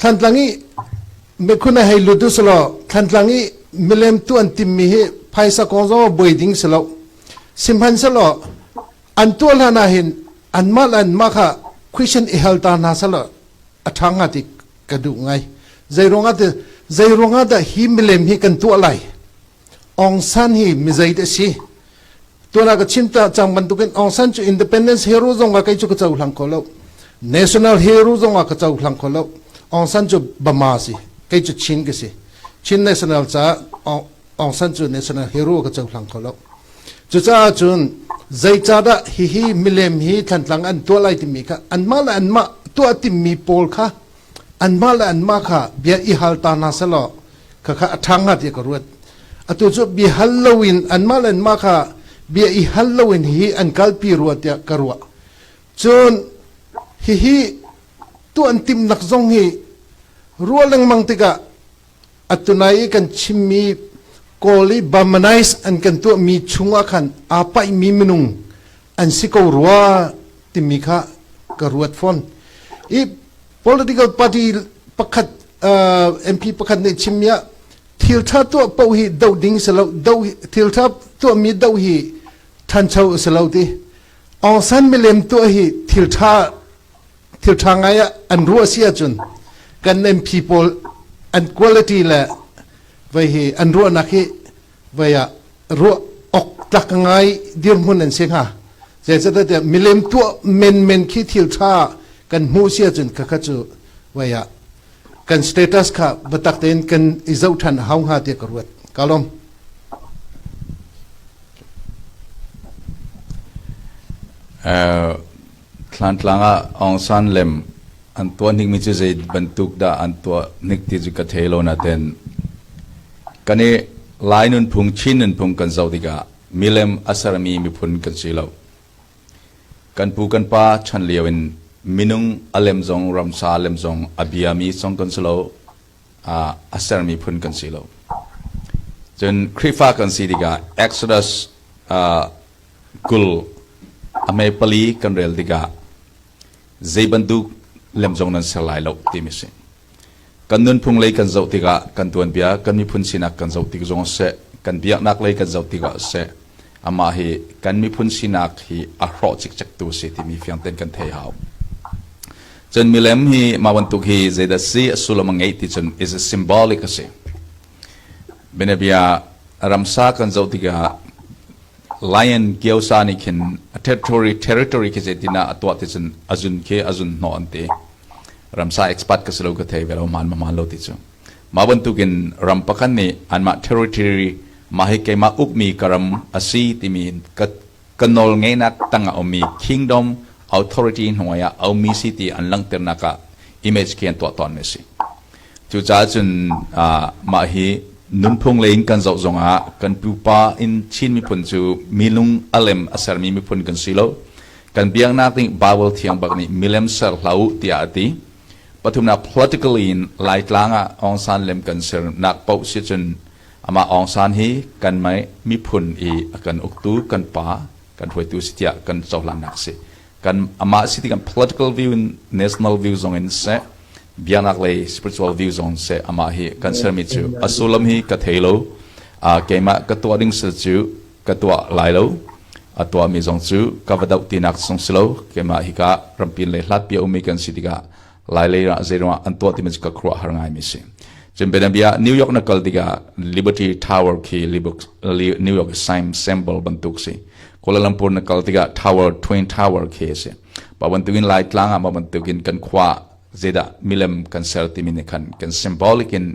Thlantlang i mikhun a hei lut u si law Thlantlang i milem tu an timmi hi phaisa kong zong ah buai ding si lo. Sihmanhsehlaw an tuah hlan ahhin anmah le anmah kha question i hal ta hna selaw a ṭha hnga ti ka duh ngai. Zeiruangah ti zeiruangah dah hi milem hi kan tuah lai? Aung San hi mizeit a si. Tuana ka chim ta cang bantukin Aung San cu independence hero zong ah kei cu ka co hlang kho lo. National hero zong ah ka co hlang kho lo. Aung San cu Bama si. Kei cu Chin ka si. Chin national caah Aung San cu national hero ka co hlang kho lo. Cucaah cun zeicadah hihi milem hi thlantlang an tuah lai timi kha anmah le anmah tuah timmi pawl kha anmah le anmah kha bia i hal ta hna selaw khakha a ṭha hnga tiah ka ruat atu cu bia hal loin anmah le anmah kha bia i hal loin hihi an kalpi rua tiah ka ruah cun hihi tuan timnak zong hi ruah lengmang tikah Atunai i kan chimmi Kawl i Burmanize an kan tuahmi chungah khan aa paihmi minung an si ko rua timi kha ka ruat fawn. I political party pakhat uh, MP pakhat nih chimmi ah thiltha tuah paoh hi doh ding si lo do thiltha tuahmi do hi thancho si lo ti Aung San milem tuah hi thiltha thilṭha ngai ah an ruah si ahcun kan MP pawl an quality le vei hi an ruahnak hi vei ah ruah ok tlak ngai dirhmun an si hnga zeicatiah milem tuah menmen khi thil ṭha kan hmuh si ahcun khakha cu vei ah kan status kha batak tein kan i zoh ṭhan a hau hnga tiah ka ruat ka lom Uh, Thlantlang ah Aung San lem an tuah hnikmi cu zei bantuk dah an tuah hnik ti cu ka thei lo naten. Kan i Lai nunphung, Chin nunphung kan zoh tikah milem a sermi miphun kan si lo. Kan pu kan pa chan lio in minung a lem zong ramsa a lem zong a biami zong kan si lo. Uh, a sermi phun kan si lo. Cun Khrihfa kan si tikah Exodus uh, Kul a mee pali kan rel tikah zei bantuk lem zong nan ser lai lo timi a si. Kan nunphung lei kan zoh tikah kan tuanbia kan miphun sinak kan zoh tik zong seh kan biaknak lei kan zoh tikah seh amah hi kan miphun sinak hi a hrawh cikcektu a si timi fiang ten kan thei hau. Cun milem hi mah bantuk hi zeidah si a sullam a ngeih ti cun is a symbolic a si. Bianabia ramsa kan zoh tikah Lion Gyosa nih khin a territory territory khi zeitin ah a tuah ti cun a zun khi a zun hnawh an ti. Ramsa expert ka si lo ka thei ve lo man ma man lo ti cu. Mah bantukin ram pakhat nih anmah territory mah hi keimah ukmi ka ram a si timi ka ka nawl ngeinak tang a ummi kingdom authority hnuai ah a ummi si ti an langhternak ah image khi an tuah tawnmi a si. Cucaah cun mah hi nunphung lei in kan zoh zongah kan pupa in Chin miphun cu milung alem a sermi miphun kan si lo. Kan biaknak nih Baibal thiang bak nih milem ser hlah u tiah a ti. Pathumnak political in Laitlang ah Aung San lem kan sernak paoh si cun amah Aung San hi kan miphun i a kan uktu kan pa, kan hruaitu si tiah kan cohlannak a si. kan amah si tikan political view in national view zong in seh biaknak lei spiritual view zong seh amah hi kan sermi cu a sullam hi ka thei lo a keimah ka tuah ding sir cu ka tuah lai lo a tuah mi zong cu ka va doh tinak sung si lo keimah hi ka rampin le hlat pi a ummi kan si tikah lailei ah zeiruang an tuah timi cu ka khuruah har ngaimi si cun bianabia New York na kal tikah Liberty Tower khi New York symbol bantuk si Kuala Lumpur na kal tikah tower twin tower khi si ba bantukin laitlang ah ba bantukin kan khua zedah milem kan ser timi ni khan kan symbolic in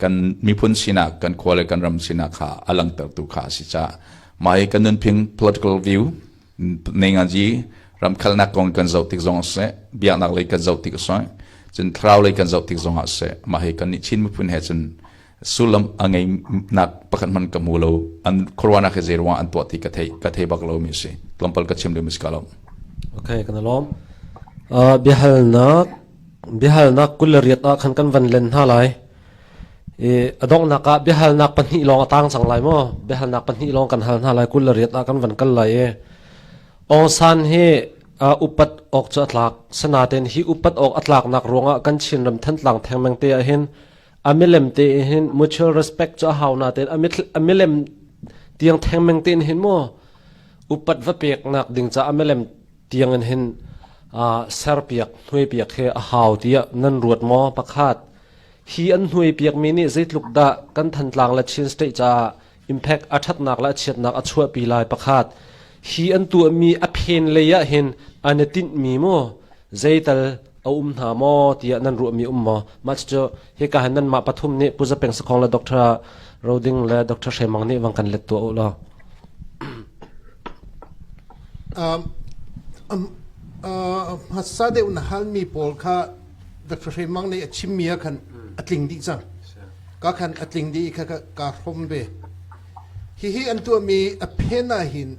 kan miphun sinak kan khua le kan ram sinak kha alang tertu kha si cha mai kan nunphing political view nengaji ramkhalnak kong kan zoh tik zong a si biaknak lei kan zoh tik a si cun thlarau lei kan zoh tik zong ah si mah hi kan nih chin miphun he cun sullam a ngei nak pakhat man ka mu lo an corona ke zerwa an tuah ti ka thei ka thei bak lo mi si lampal ka chim le mi ka lo okay kan lom a bihalnak bihalnak kulariat a khan kan van len ha lai a donghnak ah biahalnak pahnih lawng a tang cang lai maw biahalnak pahnih lawng kan hal hna lai kul le riat ah kan van kal lai i Aung San hi upat awk cu a tlak senaten hi upat awk a tlaknak ruangah kan Chinram thentlang thengmeng te ah hin a milem te hin mutual respect cu a hau na ten a milem tiang thengmeng te hin mo upat va pek nak ding ca a milem tiang in hin serpiak hnui piak he a hau tia nan ruat mo pakhat Hi an hnuaipiakmi nih zeitluk dah kan Thantlang le Chin State caah impact a ṭhatnak le a chiatnak a chuahpi lai pakhat. Hi an tuahmi a phen lei ah hin an i tinhmi maw zeital a um hna maw tiah nan ruahmi um maw? Mah cucu hika hin nanmah pathum nih Pu Za Peng Sakhong le Dr. Ro Ding le Dr. Hre Mang nih van kan let tuah u law. Um, um, uh, hmasa deuh na halmi pawl kha Dr. Hre Mang nih a chimmi ah khan a tling dih cang. Ka khan a tling dih i kha kaa hrom ve. Hihi an tuahmi a phen ah hin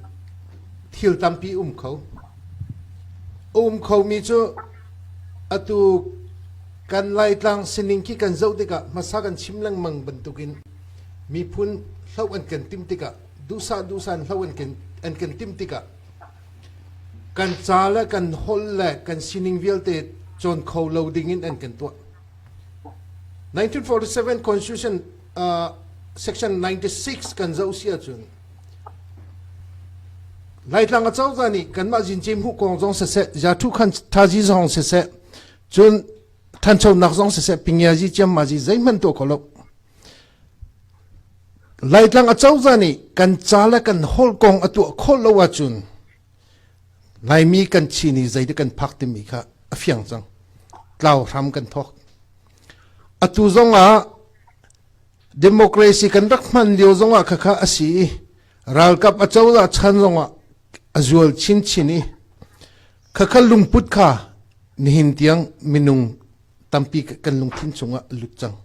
thil tampi um kho. A um khomi cu atu kan Laitlang sining khi kan zoh tikah hmasa kan chim lengmang bantukin miphun hloh an kan tim tikah duhsah duhsah hloh an kan, an kan tim tikah Kan ca le kan holh le kan sining vialte cawn kho lo dingin an kan tuah. 1947 Constitution uh, Section 96 kan zoh si ahcun Laitlang acozah nih kanmah zinci hmuh kong zong siseh, zathu khan thazi zong siseh, cun thanchonak zong siseh, pingiazi chiammazi zeihman to kholo. Laitlang acozah nih kan ca le kan holh kong a tuah khawh lo ahcun Laimi kan chin i zeidah kan phak timi kha a fiang cang. Tlau hram kan thawk. Atu zongah democracy kan rak hman lio zongah khakha a si i ralkap acozah chan zongah a zual chinchin i khakha lungput kha nihin tiang minung tampi kan lungthin chungah a lut cang.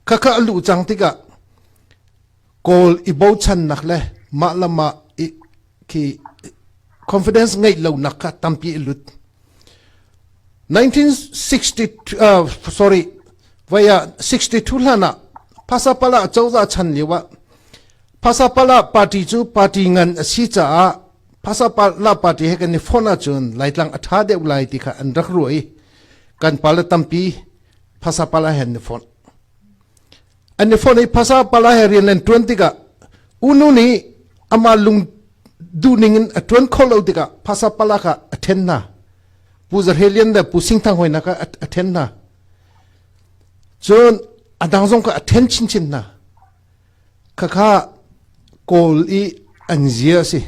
Khakha a luh cang tikah kawl i bochannak le mah le mah i khi confidence ngeih lonak kha tampi a lut. 1960 uh, sorry vai ah 62 hlan ah phasapala cozah chan lio ah phasapala party cu party ngan a si caah phasapala party he kan i phone ahcun laitlang a tha deuh lai ti kha an rak ruah i kan pale tampi phasa pala he ni fon an ni fon i phasa pala he rian len tuan tikah unu nih ama lung duhning in a tuan kho lo tikah phasa pala ka a then na pu zarhelian le pu singthang hoina ka a then na cun adang zong ka a then chin chin na khakha kawl i anzia si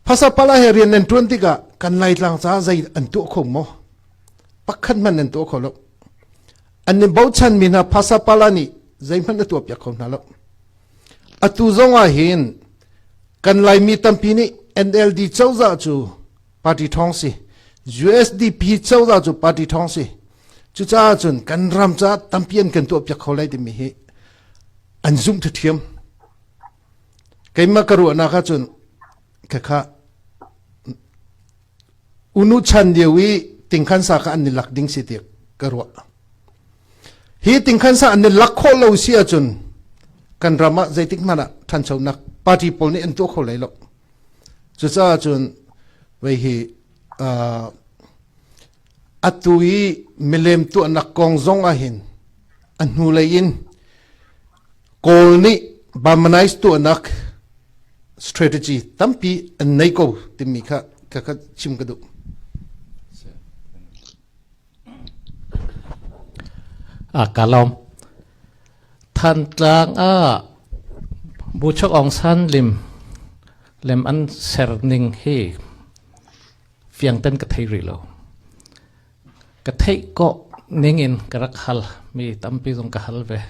Phasapala he rian nan ṭuan tikah kan Laitlang caah zei an tuah kho maw? Pakhat hmanh nan tuah kho lo. An in bochanmi hna phasapala nih zeihmanh a tuahpiak kho hna lo. Atu zong ah hin kan Laimi tampi nih NLD cozah cu party ṭhawng si, USDP cozah cu party ṭhawng si. Cucaah cun kan ram caah tampi an kan tuahpiak kho lai timi hi an zumh ṭhiṭhiam. Keimah ka ruahnak ahcun khakha unu chan lio i tingkhansa kha an i lak ding si ti ka ruah. Hi tingkhansa an i lak khawh lo si ahcun kan ram ah zeitik hmanh ah ṭhanchonak party pawl nih an tuah kho lai lo. Cucaah cun vei hi uh, atu i milem tuahnak kong zong ahhin a hnulei in Kawl nih Burmanize tuahnak strategy tampi an nei ko timi kha ka ka chim ka duh. a kalom than tlang a bu chok ong san lim lem an ser ning hi fiang ten ka thei ri lo Ka theih kawh ningin ka rak hal. Mi tampi zong ka hal ve.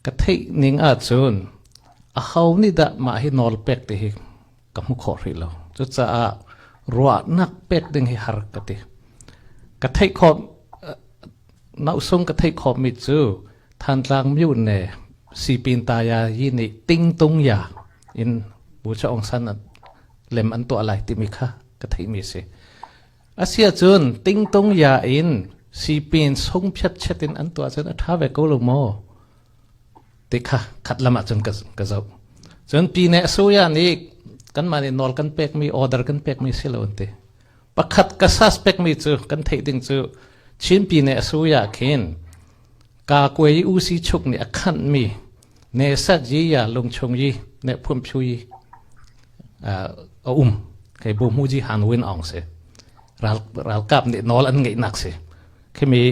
Ka theih ning ahcun aho nih dah mah hi nawl pek ti hi ka hmu kho hrih lo. Cucaah ruahnak pek ding hi har ka ti. Ka theih khawh nausung ka theih khawh mi cu Thantlang myu ne sipin taya yi nih tingtung ya in Bu Cha Aung San lem an tuah lai timi kha ka theih mi si. Asiahcun tingtung ya in sipin sung phiatchet in an tuah cun a ṭha ve ko lo maw? ti kha khat lam ah cun ka zoh. Cun pine a suya nih kanmah nih nawl kan pekmi, order kan pekmi si lo an ti. Pakhat ka suspectmi cu kan theih ding cu Chin pine a suya khin ka kuei usi chuk nih a khanhmi Ne satzi ya lungchung yi ne phumphu yi a um kei bu mu ji han win ong si ral ral kap nih nawl an ngeih nak si khimi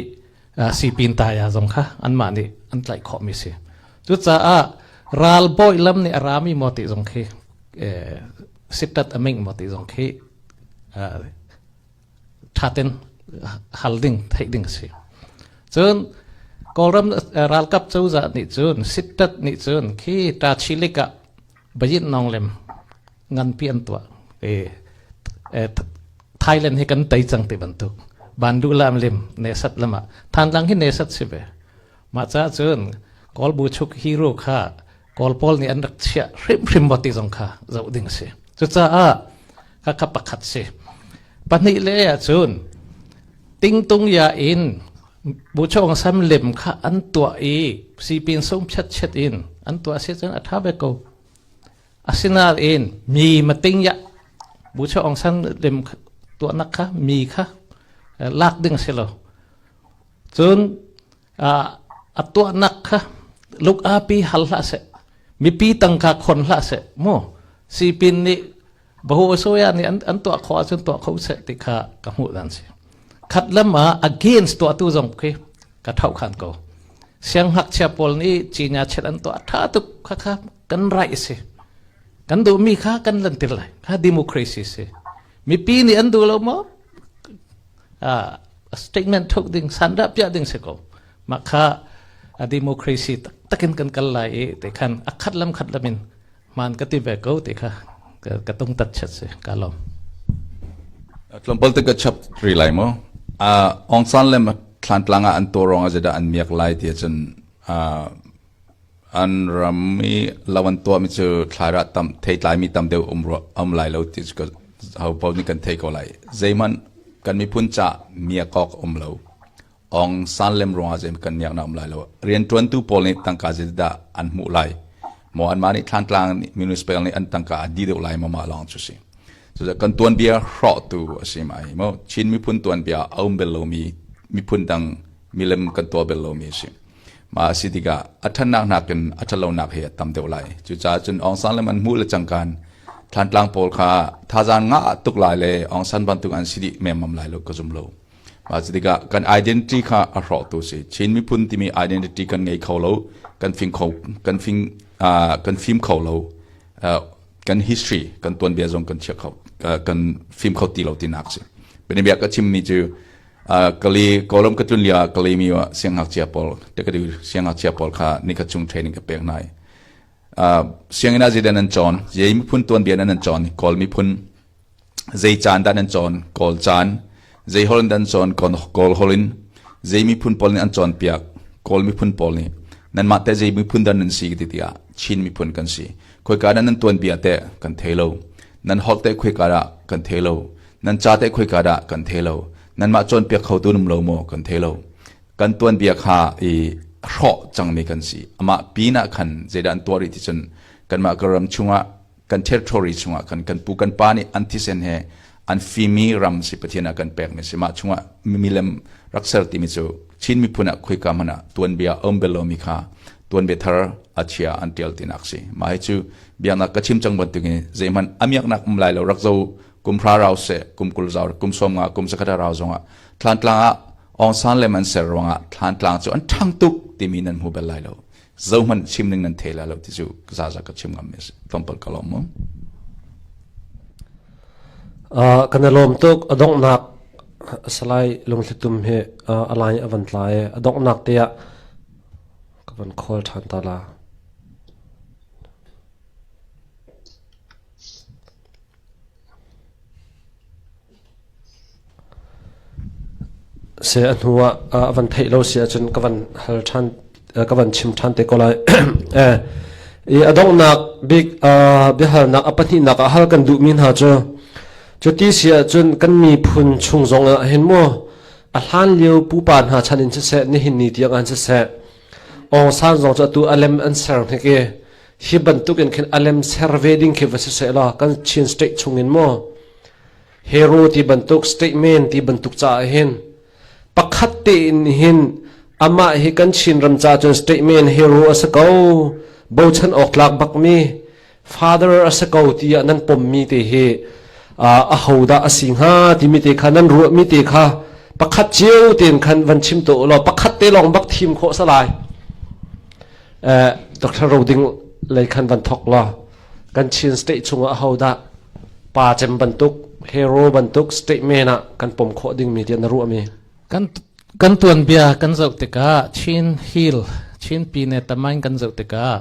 si pin ta ya zong kha an mah nih an tlaih khawh mi si cu caah ral boy lam nih a rami mo ti zong khi sittat aming mo ti zong khi thatin hal ding theih ding a si cun kawlram ralkap cozah nih cun sittat nih cun khi ta chilik ah bayin nong lem nganpi an tuah thailand hi kan tei cang ti bantuk bandu lam lim nesat lama than lang hi nesat si ve Mah caah cun Kawl buchuk hero kha Kawl pawl nih an rak chiah hrimhrim maw ti zong kha zoh ding a si. Cucaah khakha pakhat si. Pahnih le ahcun tingtung ya in buchong sam lem kha an tuah i sipin sung phet chet in an tuah si cun a tha ve ko. Asinain mi mating ya buchong sam lem tuahnak kha mi kha lak ding si lo. Cun a tuahnak kha luk api hal hlah seh mipi tangka khon hlah seh mu sipin nih bahu soya nih an, an tuah kho ahcun tuah kho seh ti kha ka hmuh dan si khat lam ah against tuah tu zong khi ka thau khan ko siang hngakchia pawl nih cinya chet an tuah tha tuk kha kha kan right si kan duh mi kha kan lan til lai kha democracy si mipi nih an duh lo maw statement thuk ding san dah piah ding si ko mah kha a democracy taktak in kan kal lai i te khan a khat lam khat lam in man ka ti ve ko te kha ka tung tat chat se ka lom tlawmpal te ka chap ri lai mo a ong san le thlan tlanga an to rong a zeda an miak lai ti cun An ram i lo an tuahmi cu thlairah tam theitlaimi tam deuh um rua um lai lo ti cu kan hopaoh nih kan theih ko lai. Zeihmanh kan miphun caah miak awk a um lo. Ong san lem ruangah zeihmanh kan niaknak a um lai lo. Rianṭuantu pawl nih tangka zeidah an hmuh lai? Maw anmah nih thlantlang nih municipal nih an tangka a dih deuh lai maw mah lawng cu a si. Cucaah kan tuanbia hrawhtu a si mai. Maw Chin miphun tuanbia a um bel lomi miphun dang milem kan tuah bel lomi a si. Mah a si tikah a ṭhannak nakin a ṭhatlonak hi a tam deuh lai. Cucaah cun Aung San le man hmuh le cangkan thlantlang pawl kha thazaang ngah ah tuk lai le Aung San bantuk an si dih memmam lai lo ka zum lo. Mah cu tikah kan identity kha a hrawktu si. Chin miphun timi identity kan ngei kho lo, kan fing kho kan fing uh, kan fim kho lo. Uh, kan history kan tuanbia zong kan chiah kho uh, kan fim kho ti lo tinak si. Bianabia ka chimmi cu kali kawlam ka tlun lio ah kali mi ah siangngakchia pawl tekadu siangngakchia pawl kha nikhat chung training ka pek nai sianginn ah zeidan nan cawn zei miphun tuan bian nan cawn kawl miphun zei caan dan nan cawn kawl caan zei hol dan cawn kawl holin zei miphun pawl nih an cawn piak kawl miphun pawl nih nan mah te zei miphun dan nan si ti tiah chin miphun kan si khoi ka nan tuan bia te kan thei lo Nan holh te khoika dah kan thei lo. Nan ca te khoika dah kan thei lo. Nanmah cawnpiak kho tu num lo maw kan thei lo. Kan tuanbia kha i hrawh cangmi kan si. Amah pinah khan zeidah an tuah rih ti cun kanmah ka ram chungah kan territory chungah kan kan pu kan pa nih an thisen he an fimi ram si pathian ah kan pekmi si mah chungah milem rakser timi cu Chin miphun ah khoika hmanh ah tuanbia a um bel lomi kha tuanbia thar a chia an tial tinak si mah hi cu biaknak ka chim cang bantuk in zeihmanh a miaknak um lai lo rak zo kum hra rau se kum kul zau kum som nga kum sakata rau zong ah thlan tlang ah ong san le man ser ruang ah thlan tlang cu an thang tuk timi nan hmu bel lai lo zo man chim ning nan thela lo ti cu za za ka chim ngam mes tompal ka lom mu uh, kana lom tuk adong nak salai lungthlutum he uh, alai avan tlai adong nak te ah ka van khawl ṭhan ta la. Se a hnu ah a van theih lo si ahcun ka van hal ṭhan ka van chim ṭhan te ko lai. eh i a donghnak bik biahalnak a pahnihnak ah hal kan duhmi hna cu cu ti si ahcun kan miphun chung zongah hin mu A hlan lio pupa hna chan in siseh, nihin ni tiang an siseh, Aung San zong cu atu alem an ser hnik i hi bantuk in khin alem ser ve ding khi va si seh law kan Chin state chung in maw hero ti bantuk statement ti bantuk ca ah hin pakhat te in hin amah hi kan Chin ram ca cun statement hero a si ko bochan awk tlak bak mi father a si ko ti ah nan pommi te hi a ho dah a si hnga timi te kha nan ruahmi te kha pakhat cio ten khan van chim to law pakhat te lawng bak thim khawh sa lai Dr. Roding lei khan van thok la kan Chin state chungah ho dah pa cem bantuk hero bantuk statement ah kan pom khawh ding mi tiah na ruah mi kan kan tuan bia kan zoh tikah Chin hill Chin pine tamain kan zoh tikah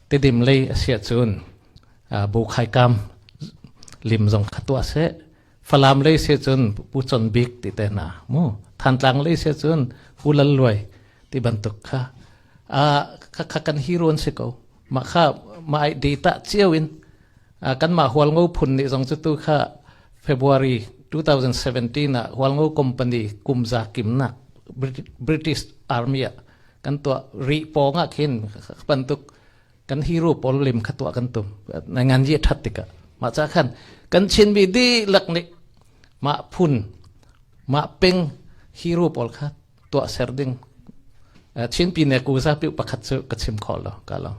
Tidim lei a siah cun bu khaikam lim zong kha tuah seh. Falam lei siah cun pu chon bik ti te na mu. Thantlang lei siah cun pu lal luai ti bantuk kha a kha kha kan hiruan si ko. Ma kha ma ai data chiao in kan ma hual ngo phun ni zong cu tu kha February 2017 a hual ngo company kumza kimnak British Army kan tuah ri pawng ah khin bantuk kan hiru pawl lim kha tuah kan tum ngan ji that tikah mah cha khan kan chin bi di lak nik ma phun ma peng hiru pawl kha tuah ser ding chin pi ne ku za pi pakhat chu ka chim khol lo ka lo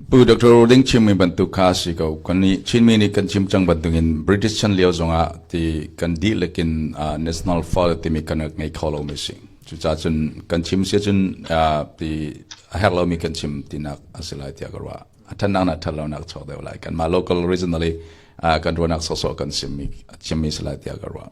Pu Dr. Roding chimmi bantuk kha a si ko. Kannih Chinmi nih kan chim cang bantukin British chan lio zongah ti kan dihlak in uh, national file timi kan ngei kho lomi si. Cucaah cun kan chim si cun uh, ti a herh lomi kan chim tinak a si lai tiah ka ruah. A thannak nak that lonak chok deuh lai. Kanmah local regionally uh, kan ruahnak sawsawh kan chimmi, chimmi si lai tiah ka ruah.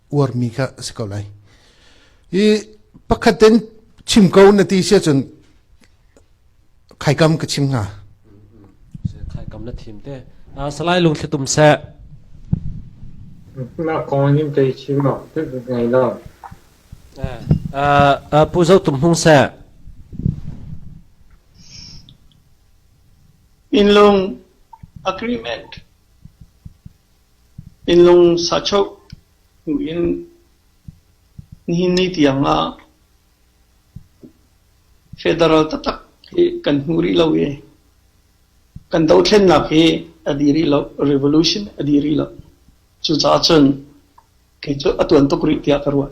uarmi kha a si ko lai i pakhat ten chim ko na ti si cun khaikam ka chim nga khaikam na thim te salai lung thlitum se na kong nim te chim ma tu ngai la pu zo tum hung se in long agreement Innlung sachawh buin nihin ni tiangah federal taktak hi kan hmu rih lo i kan dothlennak hi a dih rih lo, revolution a dih rih lo. Cucaah cun kei cu a tuan tuk rih tiah ka ruah.